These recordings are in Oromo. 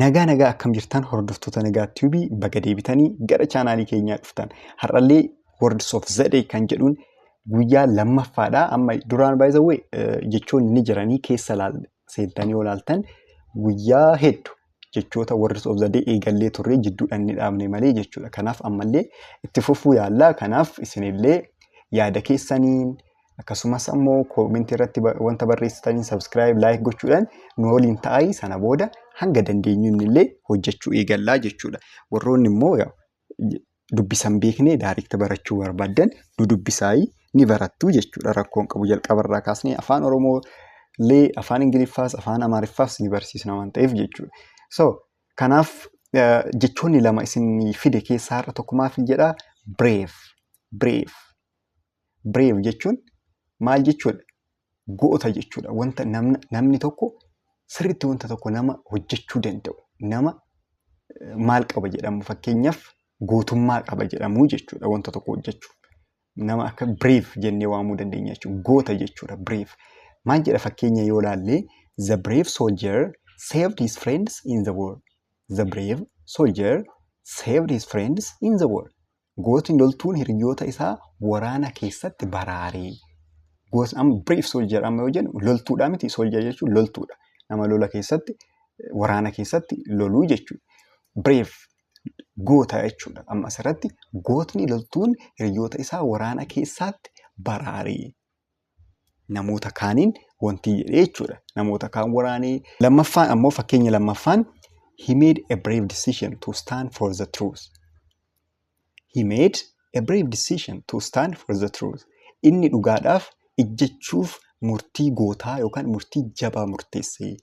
Nagaa nagaa akkam jirtan hordoftoota nagaa tiibii baga deebitanii gara chaanaalii keenyaa dhuftan. Har'allee Words of Zedee kan jedhuun guyyaa lammaffaadha. Amma duraan baay'isawwee jechoonni ni jiranii keessa laal- seentanii yoo laaltan guyyaa heddu jechoota Words of Zedee eegallee turre jidduudhaan ni dhaabne malee jechuudha. Kanaaf ammallee itti fufuu yaallaa. Kanaaf isinillee yaada keessaniin akkasumas ammoo koomentii irratti ba- wanta barreessitaniin subscribe like gochuudhaan nu waliin ta'aa sana booda hanga dandeenyuun illee hojjechuu eegallaa jechuudha warroonni immoo yaa- j- dubbisan beeknee daariikta barachuu barbaaddan nu dubbisaayii ni barattuu jechuudha rakkoon qabu jalqabarraa kaasnee afaan oromoo illee afaan ingiliffaas afaan amaariffaas ni barsiisna waan ta'eef jechuudha so kanaaf eh, jechoonni lama isin fide keessaa har'a tokko maaf hin jedhaa brave brave Brave jechuun maal jechuudha? Goota jechuudha. Wanta namna, namni tokko sirriitti wanta tokko nama hojjechuu danda'u. Nama eh, maal qaba jedhamu fakkeenyaaf gootummaa qaba jedhamu jechuudha wanta tokko hojjechuuf. Nama akka brave jennee waamuu dandeenya jechuudha. Goota jechuudha brave. Maal jedha fakkeenya yoo laallee the brave soldier saved his friends in the war. The brave soldier saved his friends in the war. Gootni loltuun hiriyyoota isaa waraana keessatti baraare. Gootni amma brief soldier amma yoo jennu loltuudha miti soldier jechuun loltuudha. Nama lola keessatti waraana keessatti loluu jechuudha. Brave goota jechuudha. Amma asirratti gootni loltuun hiriyyoota isaa waraana keessaatti baraare. namoota kaaniin wantii jedhee jechuudha. Namoota kaan waraanee. Lammaffaan ammoo fakkeenya lammaffaan he made a brave decision to stand for the truth. He made a brave decision to stand for the truth. Inni dhugaadhaaf ijjechuuf murtii gootaa yookaan murtii jabaa murteesse.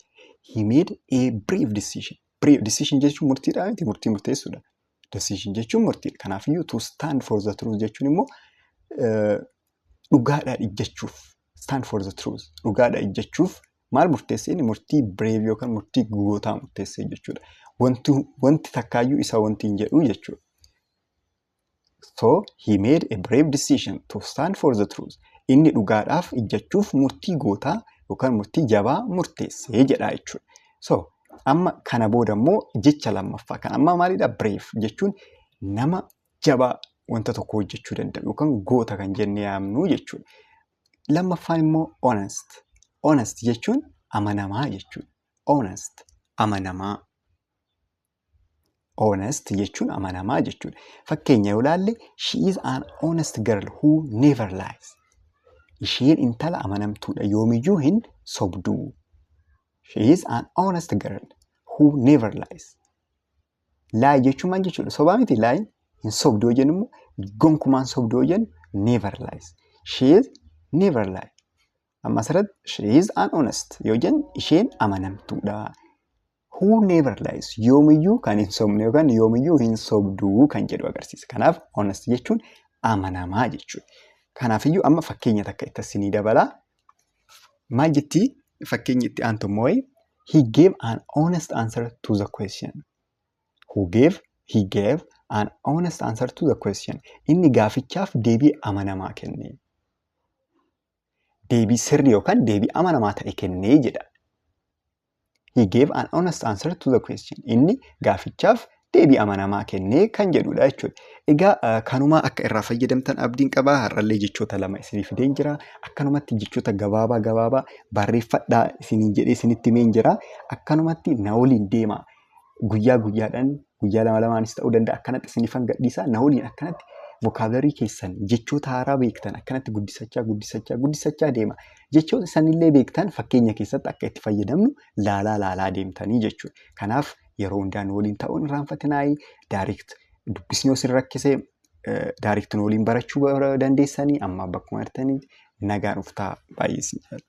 He made a brave decision. Brave decision jechuun murtiidhaa miti murtii murteessuudha. Decision jechuun murtiidha. Kanaafiyyuu to stand for the truth jechuun immoo dhugaadhaa ijjachuuf stand for the truth dhugaadhaa ijjachuuf maal murteessee inni murtii brave yookaan murtii gootaa murteessee jechuudha. Wanti, wanti takkaayyuu isa wanti hin jedhu jechuudha. So he made a brave decision to stand for the truth. Inni dhugaadhaaf ijjachuuf murtii gootaa yookaan murtii jabaa murteessee jedhaa jechuudha. So amma kana booda immoo jecha lammaffaa kan amma maalidha brave jechuun nama jabaa wanta tokko hojjechuu danda'u yookaan goota kan jennee yaamnu jechuudha. Lammaffaan immoo honest. Honest jechuun amanamaa jechuudha. Honest amanamaa. Honest jechuun amanamaa jechuudha. Fakkeenya yoo ilaalle she is an honest girl who never lies. Isheen intala amanamtuudha yoomiyyuu hin sobduu. She is an honest girl who never lies. Laayi jechuun maal jechuudha? Sobaa miti laayi. Hin sobdu yoo jennu immoo gonkumaan sobdu yoo jennu never lies. She is never lie. Amma asirratti she is an honest yoo jennu isheen amanamtuudha. Who never lies yoomiyyuu kan hin sobne yookaan yoomiyyuu hin sobdu kan jedhu agarsiisa. Kanaaf honest jechuun amanamaa jechuudha. Kanaafiyyuu amma fakkeenya takka itti asii ni dabala. Maal jetti fakkeenyi itti aantu immoo wayi? He gave an honest answer to the question. Who gave? He gave an honest answer to the question. Inni gaafichaaf deebii amanamaa kenne. Deebii sirrii yookaan deebii amanamaa ta'e kennee jedha. He gave an honest answer to the question. Inni gaafichaaf deebii amanamaa kennee kan jedhudha jechuudha. Egaa eh, kanumaa akka irraa fayyadamtan abdiin qaba. Har'allee jechoota lama isinii fideen jira. Akkanumatti jechoota gabaabaa gabaabaa barreeffadhaa isiniin jedhee isinitti himeen jira. Akkanumatti na waliin deemaa. guyyaa guyyaadhaan guyyaa lama lamaanis ta'uu danda'a akkanatti sinifan gadhiisaa na waliin akkanatti vokaabularii keessan jechoota haaraa beektan akkanatti guddisachaa guddisachaa guddisachaa deema. Jechoota sanillee beektan fakkeenya keessatti akka itti fayyadamnu laalaa laalaa deemtanii jechuudha. Kanaaf yeroo hundaa nu waliin ta'uun irraanfatinaayii daarikt dubbisni yoo sin rakkise daarikt nu waliin barachuu bara- dandeessanii amma bakkuma jirtanii nagaan uftaa baay'ee sin jaalladha.